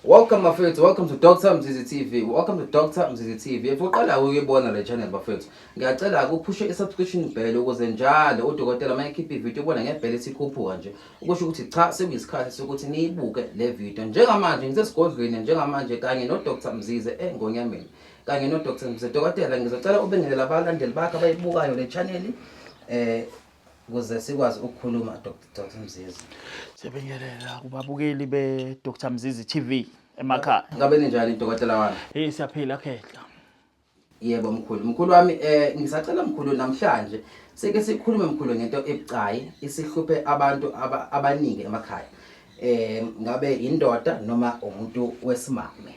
Welcome bafethu, welcome to Dr Mzizi TV. Welcome to Dr Mzizi TV. If uqala ukuyibona le channel bafethu, ngiyacela ukuphushe i-subscription bell ukuze njalo udokotela uma ekhipha ivideo ubona ngebhele esikhuphuka nje. Ukusho ukuthi cha sekuyisikhathi sokuthi niyibuke le video. Njengamanje ngisesigodlweni njengamanje kanye no Dr Mzizi engonyameni. Kanye no Dr Mzizi dokotela ngizocela ubingelela abalandeli bakhe abayibukayo le channel. Eh ukuze sikwazi ukukhuluma Dr Mzizi. Siyabingelela kubabukeli be Dr Mzizi TV emakhaya. Ngabe ninjani dokotela wami? Hey siyaphila khehla. Yebo mkhulu. Mkhulu wami eh ngisacela mkhulu namhlanje sike sikhulume mkhulu ngento ebucayi isihluphe abantu aba, abaningi emakhaya. Eh ngabe indoda noma umuntu wesimame.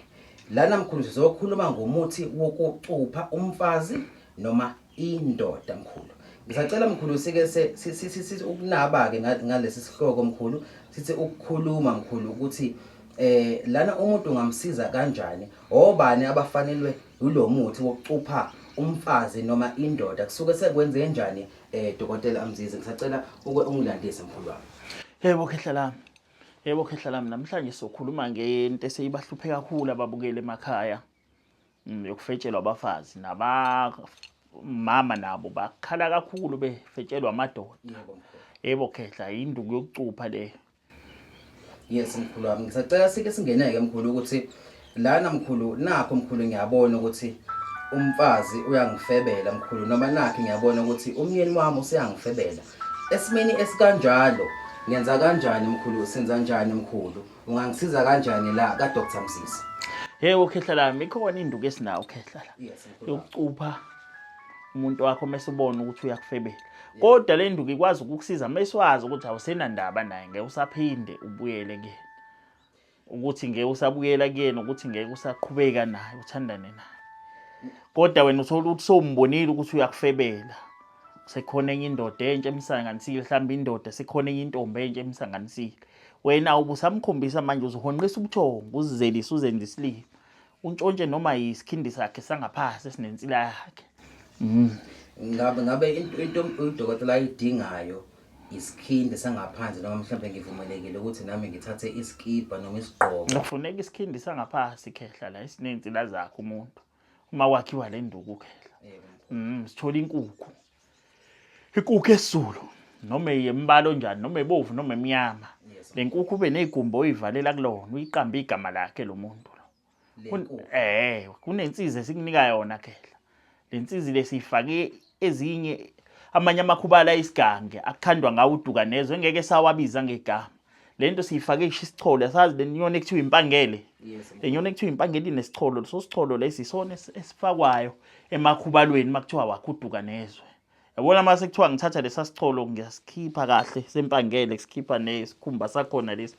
Lana mkhulu sizokhuluma ngomuthi wokucupha umfazi noma indoda mkhulu ngisacela mkhulu sike sithi ukunaba-ke ngalesi sihloko mkhulu sithi ukukhuluma mkhulu ukuthi eh lana umuntu ungamsiza kanjani obani abafanelwe yilo muthi wokucupha umfazi noma indoda kusuke sekwenze kanjani eh dokotela amzize ngisacela uke ungilandise mkhulu wami yebo khehla lami yebo khehla lami namhlanje sokhuluma ngento eseyibahlupheka kakhulu ababukeli emakhaya mm, yokufetshelwa abafazi nabamama nabo bakhala kakhulu befetshelwa amadoda yebo khehla yinduku yokucupha le yes mkhulu wami ngisacela sike singeneke mkhulu ukuthi lana mkhulu nakho mkhulu ngiyabona ukuthi umfazi uyangifebela mkhulu noma nakhe ngiyabona ukuthi umyeni wami useyangifebela esimeni esikanjalo ngenza kanjani mkhulu senza njani mkhulu Ungangisiza kanjani la ka Dr Msisi? Hey ukhehla lami ikhona induku esinawo ukhehla la. Yes. Yokucupha umuntu wakho mase ubona ukuthi uyakufebela. Kodwa le nduku ikwazi ukukusiza mase wazi ukuthi awusenandaba naye ngeke usaphinde ubuyele ke. Ukuthi ngeke usabuyela kuyena ukuthi ngeke usaqhubeka naye uthandane naye. Kodwa wena uthola ukuthi sombonile ukuthi uyakufebela. sekhona enye indoda entsha emsanganisile mhlawumbe indoda sekhona enye intombi entsha emsanganisile wena ubusamkhombisa manje uzohonqisa ubuthongo uzizelise uzenze isilima untshontshe noma yisikhindi sakhe sangaphasi esinensila yakhe mm. ngabe ngabe into udokotela ayidingayo isikhindi sangaphandle noma mhlawumbe ngivumelekile ukuthi nami ngithathe isikibha noma isigqoko kufuneka isikhindi sangaphansi khehla la esinensila zakhe umuntu uma kwakhiwa le nduku khela mm sithola inkukhu ikukhu esizulu noma yembalo njani noma ebovu noma emnyama lenkukhu ube nezigumbo oyivalela kulona uyiqamba igama lakhe lo muntu lo eh kunensiza esikunika yona khela lensizi lesifake ezinye amanye amakhubala isigange akukhandwa ngawo uduka nezwe ngeke sawabiza ngegama le nto siyifake isho isicholo asazi le nyoni ekuthiwa impangele le nyoni ekuthiwa impangele inesicholo leso sicholo lesi isona esifakwayo emakhubalweni uma kuthiwa wakhuduka nezwe yabona uma sekuthiwa ngithatha lesa sicholo ngiyasikhipha kahle sempangele kusikhipha nesikhumba sakhona lesi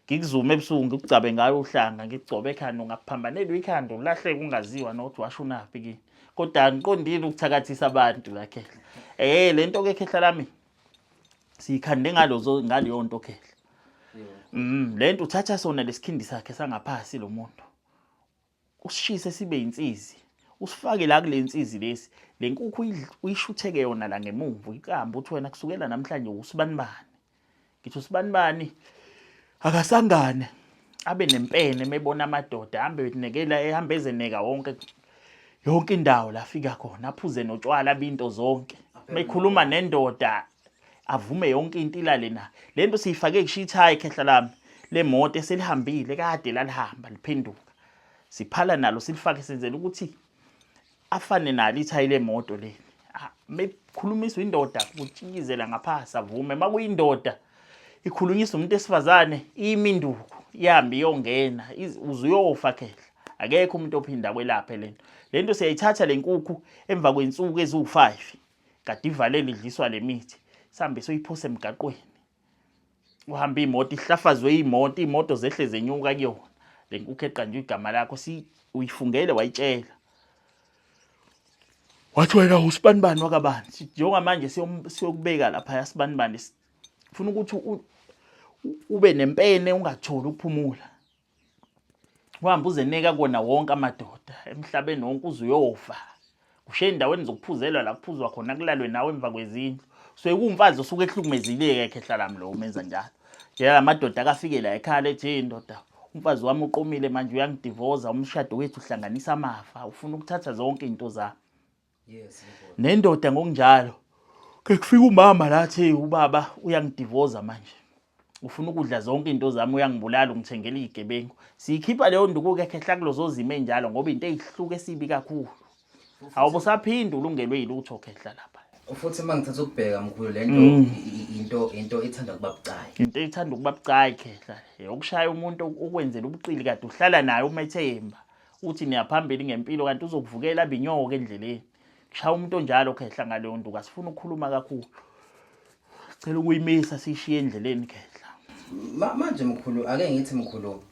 ngikuzume ebusuku ngikugcabe ngayo uhlanga ngigcobe ekhanda ungaphambanelwa ikhanda ulahleke ungaziwa nokuthi washo unaphi kini kodwa angiqondile ukuthakathisa abantu lakhehla eh lento ke khehla lami siyikhande ngalozo ngaleyo nto khehla mm le nto uthatha sona lesikhindi sakhe sangaphasi lo muntu usishise sibe insizi usifake la kule nsizi lesi le nkukhu uyishutheke yona la ngemumva uyicamba uthi wena kusukela namhlanje usibanibani ngithi usibanibani akasangane abe nempene mebona amadoda ahambe nekela ehamba ezeneka wonke yonke indawo la fika khona aphuze notshwala binto zonke mekhuluma nendoda avume yonke into ilale na lento siyifake kushithayi khehla lami lemoto eselihambile kade lalihamba liphenduka siphala nalo silifake senzela ukuthi afane nalo ithayi lemoto leli ah, mekhulumiswa indoda kutshikizela ngaphasi avume makuyindoda ikhulunyiswa umuntu esifazane iminduku ihambe iyongena uzuyofa khehla akekho umuntu ophinda kwelaphe lento lento siyayithatha lenkukhu emva kwensuku eziwu5 kade ivalele idliswa lemithi sambe soyiphose emgaqweni uhamba imoto ihlafazwe imoto imoto zehle zenyuka kuyona lenkukhu eqanjwe igama lakho si uyifungele wayitshela wathi wena usibanibani wakabani njengoba manje siyokubeka lapha yasibanibani funa ukuthi ube nempene ungatholi ukuphumula uhambe uzeneka kona wonke amadoda emhlabeni wonke uze uyofa ushiye endaweni zokuphuzelwa la kuphuzwa khona kulalwe nawe emva kwezindlu so ekuwumfazi osuke ehlukumezileke ekhe hlalami lo umenza njalo yena la madoda akafike la ekhala ethi hey ndoda umfazi wami uqomile manje uyangidivoza umshado wethu uhlanganisa amafa ufuna ukuthatha zonke izinto zami Yes. Nendoda ngokunjalo. Ke kufika umama lathi ubaba uyangidivoza manje. Ufuna ukudla zonke into zami uyangibulala ungithengela izigebengu. Siyikhipha leyo nduku ke khehla kulozo zima enjalo ngoba into eyihluke sibi kakhulu. Awubo saphinde ulungelwe yilutho khehla lapha. Futhi uma ngithatha ukubheka mkhulu lento mm. into into ethanda kuba bucayi. Into ethanda ukuba bucayi khehla. Yokushaya umuntu ukwenzela ubuqili kade uhlala naye uma ethemba. uthi niyaphambili ngempilo kanti uzokuvukela abinyoke endleleni shaya umuntu onjalo khehla ngaleyo nduku asifuna ukukhuluma kakhulu cela ukuyimisa sishiye endleleni khehla manje mkhulu ake ngithi mkhulu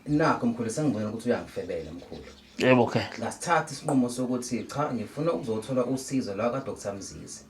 nakho mkhulu sengibona ukuthi uyangifebela mkhulu yebo khehla ngasithatha isinqumo sokuthi cha ngifuna ukuzothola usizo la ka Dr Mzizi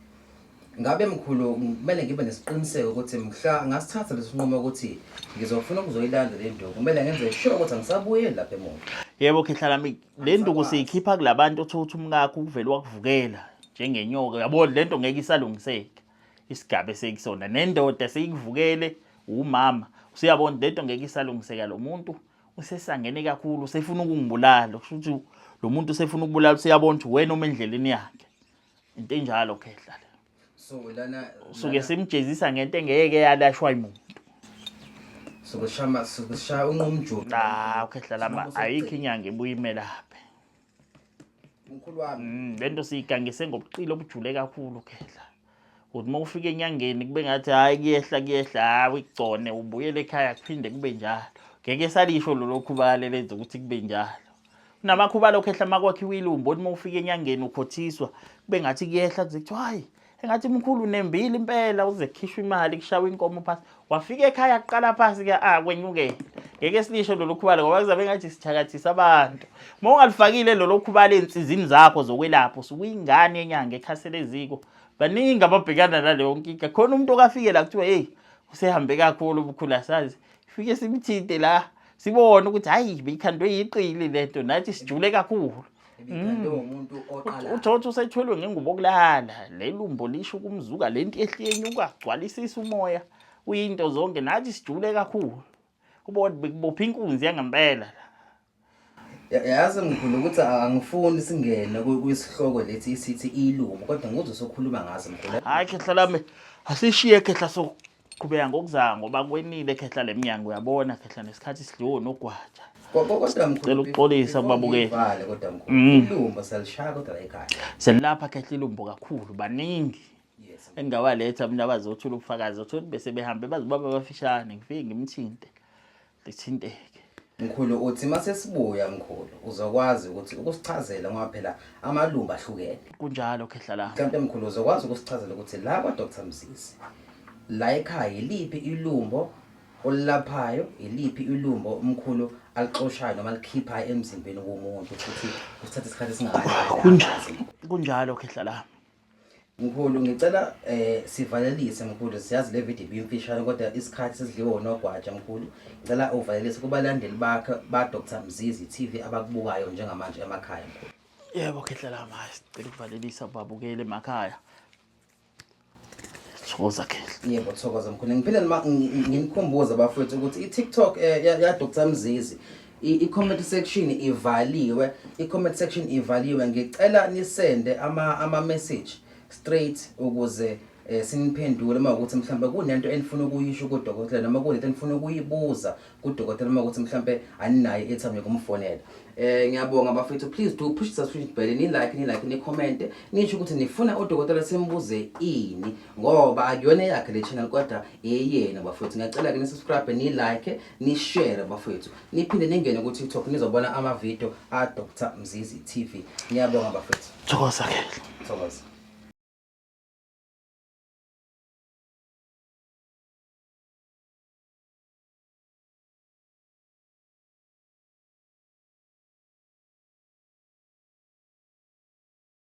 Ngabe mkhulu kumele ngibe nesiqiniseko ukuthi mhla ngasithatha lesinqumo ukuthi ngizofuna ukuzoyilanda le nduku kumele ngenze sure ukuthi angisabuyeli lapha emuva. Yebo khehla lami le nduku siyikhipha kulabantu othola ukuthi umkakho ukuvela wakuvukela njengenyoka yabo le nto ngeke isalungiseka isigaba esekusona nendoda seyikuvukele umama usiyabona le nto ngeke isalungiseka lo muntu usesangene kakhulu usefuna ukungibulala kusho ukuthi lo muntu usefuna ukubulala usiyabona ukuthi wena uma endleleni yakhe into enjalo khehla le so lana suke simjezisa ngento engeke yalashwa imuntu sokushama sokushaya unqumjulu cha ukhehla lama ayikho inyanga ibuyimela phe mkhulu wami mm, lento siyigangise ngobuqili obujule kakhulu khehla ukuthi uma ufika enyangeni kube ngathi hhayi kuyehla kuyehla hhayi uyigcone ubuyele ekhaya kuphinde kube njalo ngeke salisho lolokhu bale lenza ukuthi kube njalo namakhuba lokho ehla makwakhiwa ilumbo othi uma ufika enyangeni ukhothiswa kube ngathi kuyehla kuze kuthiwa hhayi engathi mkhulu unembile impela uze kukhishwa imali kushawa inkomo phasi wafika ekhaya kuqala phasi ke ah kwenyuke ngeke silisho lolu khubalo ngoba kuzabe ngathi sithakathisa abantu uma ungalifakile lolu khubalo ey'nsizini zakho zokwelapha usukuyingane yenyanga ekhasele eziko baningi ababhekana naleyo nkinga khona umuntu okafike la kuthiwa heyi usehambe kakhulu ubukhulu asazi Fike simthinte la sibone ukuthi hayi beyikhandwe yiqili lento nathi sijule kakhulu. Ibikhandwe Mm. umuntu oqala. Uthotho usethwelwe ngengubo okulala lelumbo lisho kumzuka lento ehliyeni ukagcwalisisa umoya uyinto zonke nathi sijule kakhulu. Ubona bekubopha inkunzi yangempela la. Yazi ngikhona ukuthi angifuni singene kwisihloko lethi isithi ilumo kodwa ngizwe sokhuluma ngazo mkhulu. Hayi khehla lami asishiye khehla so qhubeka ngokuzanga ngoba kwenile khehla lemnyango uyabona khehla nesikhathi sidliwe nogwaja. Kodwa mkhulu cela uxolisa kubabukeli. Vale kodwa mkhulu. Mm. Ilumbo selishaya kodwa la ekhaya. Selapha khehla ilumbo kakhulu baningi. Engawaletha mina bazothula ubufakazi othula bese behambe bazibaba abafishane ngifike ngimthinte. lithinteke. Mkhulu uthi masesibuya mkhulu uzokwazi ukuthi ukusichazela ngoba phela amalumba ahlukene. Kunjalo khehla la. Kanti mkhulu uzokwazi ukusichazela ukuthi la kwa Dr Mzizi la ekhaya yiliphi ilumbo olilaphayo yiliphi ilumbo umkhulu alixoshayo noma likhiphayo emzimbeni womuntu futhi usithatha isikhathi esingakanani. Kunjalo khehla la. Mkhulu ngicela eh sivalelise mkhulu siyazi le video ibimfishane kodwa isikhathi sesidliwe unogwaja mkhulu ngicela uvalelise kubalandeli bakhe ba Dr Mzizi TV abakubukayo njengamanje emakhaya mkhulu Yebo khehlela ma sicela ukuvalelisa babukele emakhaya Thokoza khehla Yebo thokoza mkhulu ngiphinde nginikhumbule bafethu ukuthi i TikTok eh, ya Dr Mzizi I-comment section ivaliwe, i-comment section ivaliwe. Ngicela nisende ama ama message straight ukuze eh siniphendule uma ukuthi mhlawumbe kunento enifuna ukuyisho kudokotela noma kunento enifuna ukuyibuza kudokotela uma ukuthi mhlawumbe aninayo ethambe kumfonela eh ngiyabonga bafethu please do push the subscription bell ni like ni like ni comment nisho ukuthi nifuna udokotela simbuze ini ngoba akuyona eyakhe le channel kodwa eyena bafowethu ngiyacela ke nisubscribe ni-like ni-share bafowethu niphinde ningene ku-tiktok nizobona amavidiyo a-dr mzizi tv ngiyabonga bafowethu thokoza ke thokoza